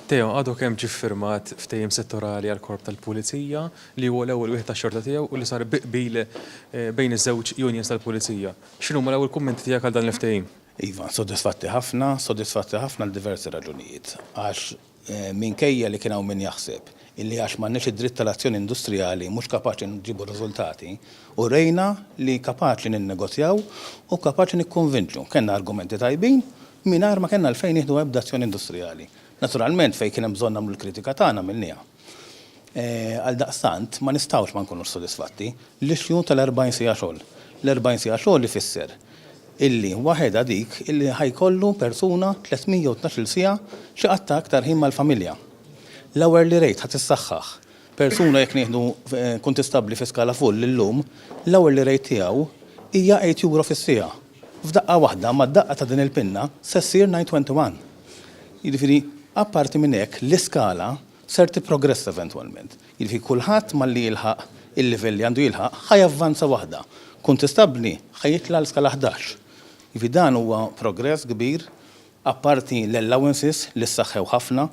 Theo għadu kemm ġie ffirmat ftehim settorali għall-Korp tal-Pulizija li huwa l-ewwel wieħed tax-xorta tiegħu u li sar bi qbil bejn iż-żewġ unions tal-Pulizija. X'inhuma l-ewwel kummenti tiegħek għal dan il-ftehim? Iva, sodisfatti ħafna. Sodisfatti ħafna għal diversi raġunijiet. Għax minkejja li kien hawn min jaħseb illi għax m'għandniex id-dritt tal-azzjoni industrijali mhux kapaċi nġibu riżultati, u rejna li kapaċi ninnegozjaw u kapaċi nikkonvinċu. Kellna argumenti tajbin mingħajr ma kellna għalfejn nieħdu ebda azzjoni industrijali. Naturalment fejn kien hemm bżonn nagħmlu l-kritika tagħna għamilniha. Għaldaqstant ma nistgħux ma nkunux sodisfatti. L-issue tal-40 siegħa xogħol. L-40 siegħa xogħol ifisser illi waħedha dik illi ħa jkollu persuna 312-il siegħa xi qatta' iktar ħin mal-familja. L-hourly rate ħa tissaħħaħ. Persuna jekk nieħdu kuntistabbli fi skala full illum, l-hourly rate tiegħu hija eight euro fis-siegħa. F'daqqa waħda mad-daqqa ta' din il-pinna se ssir nine twenty one. Jiġifieri apparti minn hekk l-iskala ser tipprogressa eventwalment. Jiġifieri kulħadd malli jilħaq il-livell li għandu jilħaq ħa javvanza waħda. Kuntistabbli ħa jitla' għal skala ħdax. Jiġifieri dan huwa progress kbir Apparti l-allowances li ssaħħew ħafna,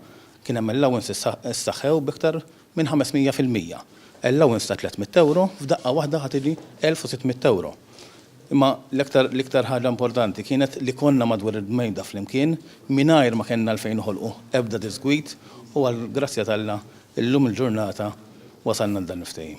kien hemm allowances ssaħħew b'iktar minn 500 fil-mija. Allowance ta' 300 ewro f'daqqa waħda ħa tiġi 1,600 ewro. Imma l-iktar l-iktar ħaġa importanti kienet li konna madwar il-bmejda flimkien mingħajr ma kellna għalfejn noħolqu ebda diżgwid u għall-grazzja t'Alla llum il-ġurnata wasalna għal dan il-ftehim.